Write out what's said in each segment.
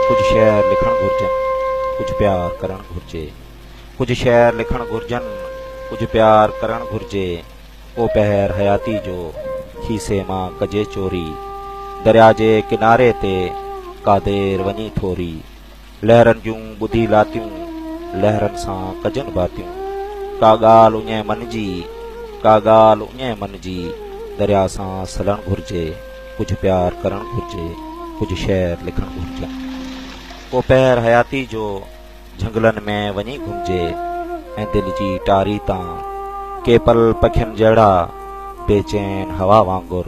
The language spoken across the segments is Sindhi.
ڪجهه شعر لکڻ گهرجن ڪجهه پيار ڪرڻ گهرجي ڪجهه شعر لکڻ گهرجن ڪجهه پيار ڪرڻ گهرجي ڪو پهر حياتي جو کيسي مان ڪجي چوري دريا جي ڪناري تي ڪا دير وڃي ٿوري لهرن جون ٻڌي لاتيون، لهرن سان ڪجن باتيون. ڪا ڳالهه اڃي من جي، ڪا ڳالهه اڃي من جي. دريا سان سلڻ گهرجي، ڪجهه پيار ڪرڻ گهرجي، ڪجهه شعر لکڻ گهرجن. ڪو پهر حياتي جو جهنگلن ۾ وڃي گهمجي ۽ دل جي ٽاري تان ڪي پل پکين جهڙا بي چين هوا وانگر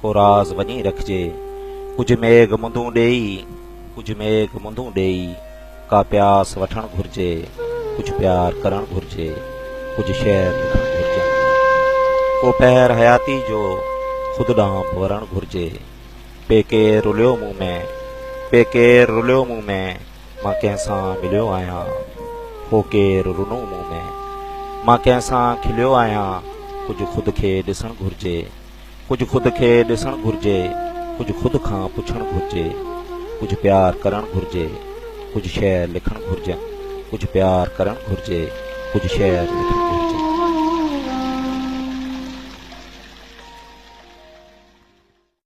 ڪو راز وڃي رکجي. ڪجهه ميگهه مندون ڏيئي، ڪجهه ميگهه مندون ڏيئي، ڪا پياس وٺڻ گهرجي، ڪجهه پيار ڪرڻ گهرجي، ڪجهه شعر لکڻ گهرجن. ڪو پهر حياتي جو خود ڏانهن به ورڻ گهرجي. پي ڪير رليو مون ۾، پي ڪير رليو مون ۾، مان ڪنهن سان مليو آهيان. هو ڪير رنو مون ۾، مان ڪنهن سان کليو آهيان، ڪجهه خود کي ڏسڻ گهرجي. ڪجهه خود کي ڏسڻ گهرجي، ڪجهه خود کان پڇڻ گهرجي، ڪجهه پيار ڪرڻ گهرجي، ڪجهه شعر لکڻ گهرجن، ڪجهه پيار ڪرڻ گهرجي، ڪجهه شعر لکڻ گهرجن.